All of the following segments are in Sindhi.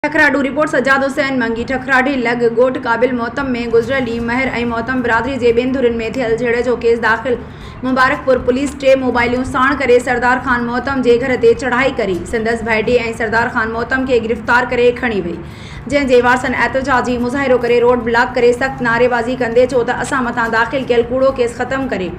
ٺڪراڊو، رپورٽ سجاد حسين منگي، ٺڪراڊي لڳ ڳوٺ قابل محتم ۾ گذريل ڏينهن مهر ۽ محتم برادري جي ٻين ڌرين ۾ ٿيل جهيڙي جو ڪيس داخل، مبارڪپور پوليس ٽي موبائليون ساڻ ڪري سردار خان محتم جي گهر تي چڙهائي ڪري سندس ڀائٽي ۽ سردار خان محتم کي گرفتار ڪري کڻي وئي جنهن جي وارثن احتجاجي مظاهرو ڪري روڊ بلاڪ ڪري سخت نعريبازي ڪندي چئو ته اسان مٿان داخل ڪيل ڪوڙو ڪيس ختم ڪري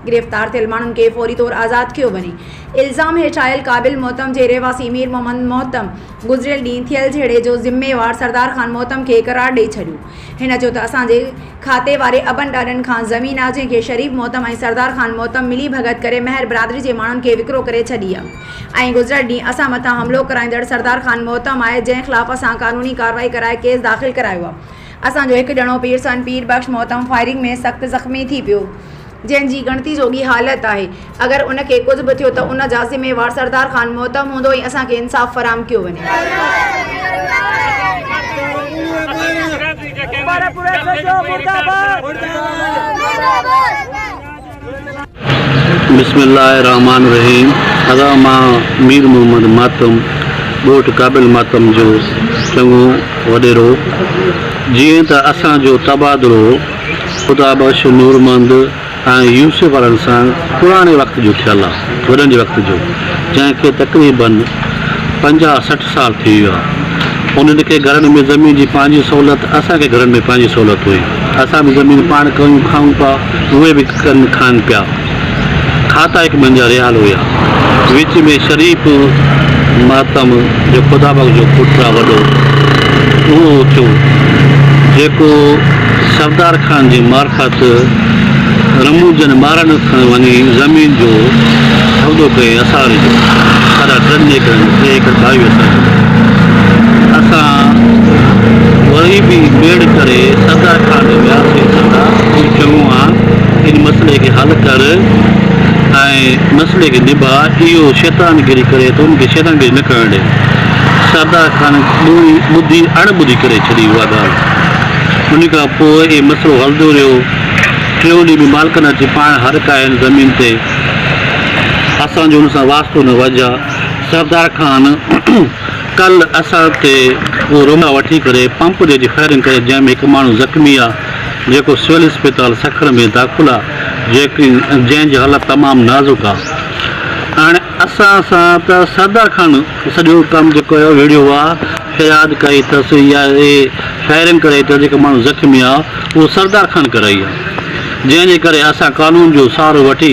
گرفتار ٿيل ماڻهن کي فوري طور آزاد ڪيو وڃي الزام هيٺ آيل قابل محتم جي رهواسي مير محمد محتم گذريل ڏينهن ٿيل جهيڙي جو ذميوار سردار خان محتم کي قرار ڏئي ڇڏيو. هن چيو ته اسان جي کاتي واري ابن ڏاڏن کان زمين آ جنهن کي شريف محتم ۽ سردار خان محتم ملي ڀڳت ڪري مهر برادري جي ماڻهن کي وڪرو ڪري ڇڏي آ ۽ گذريل ڏينهن اسان مٿان حملو ڪرائيندڙ سردار خان محتم آهي جنهن خلاف اسان قانوني ڪارروائي ڪرائي ڪيس داخل ڪرايو آ. اسان جو هڪ ڄڻو پيرسان پير بخش محترم فائرنگ ۾ سخت زخمي ٿي پيو جنهن جي ڳڻتي جوڳي حالت آهي اگر ان کي ڪجهه به ٿيو ته ان جا ذميوار سردار خان محترم هوندو ۽ اسان کي انصاف فراهم ڪيو وڃي. بسم الله الرحمٰن الرحيم ادا مان مير محمد ماتم ڳوٺ قابل ماتم جو چڱو وڏيرو جيئن ته اسان جو تبادلو خدا بخش نورمند ۽ يوسف وارن سان پراڻي وقت جو ٿيل آ وڏن جي وقت جو جنهن کي تقريبن پنجاهه سٺ سال ٿي ويا. انهن کي گهرن ۾ زمين جي پنهنجي سهولت، اسان کي گهرن ۾ پنهنجي سهولت هئي. اسان به زمين پاڻ ڪيون کائون پيا، اهي به ڪن کائن پيا. کاتا هڪ ٻن جا رهيال هيا. وچ ۾ شريف مهتم جو خدا بخش جو پٽ آ وڏو، اهو اٿيو، جيڪو سردار خان جي معرفت، رموزن ٻارن اٿڻ وڃي زمين جو سودو ڪئي اسار جو سارا ٽن ايڪڙن ۾ ٽي ايڪڙ ڀائي وسار جو اسان وري به ميڙ ڪري سردا خان ڏي وياسين سردا کان چڱو آ ان مسئلي کي حل ڪر ۽ مسئلي کي نباء اهو شيطان گري ڪري ٿو ان کي شيطان گري نه ڪرڻ ڏي سردا خان ٻڌي اڻ ٻڌي ڪري ڇڏي اها ڳالهه ان کان پوء اهي مسئلو هلندو رهيو. ٽيون ڏينهن به مالڪن اچي پاڻ هڏ ڪاهي هن زمين تي. اسان جو ان سان واسطو نه وجهه. سردار خان ڪل اسان تي اهو رومبا وٺي ڪري پمپ جي اچي فائرنگ ڪري جنهن ۾ هڪ ماڻهو زخمي آ جيڪو سول اسپتال سکر ۾ داخل آ جنهن جي حالت تمام نازڪ آ. اسان سان ته سدا کان سڄو ڪم جيڪو آهي اهو ويڙهيو آ، فياد ڪئي تس يا اهي فائرنگ ڪرائي تس جيڪا ماڻهو زخمي آ اهو سردا خان ڪرائي آ جنهن جي ڪري اسان قانون جو سهارو وٺي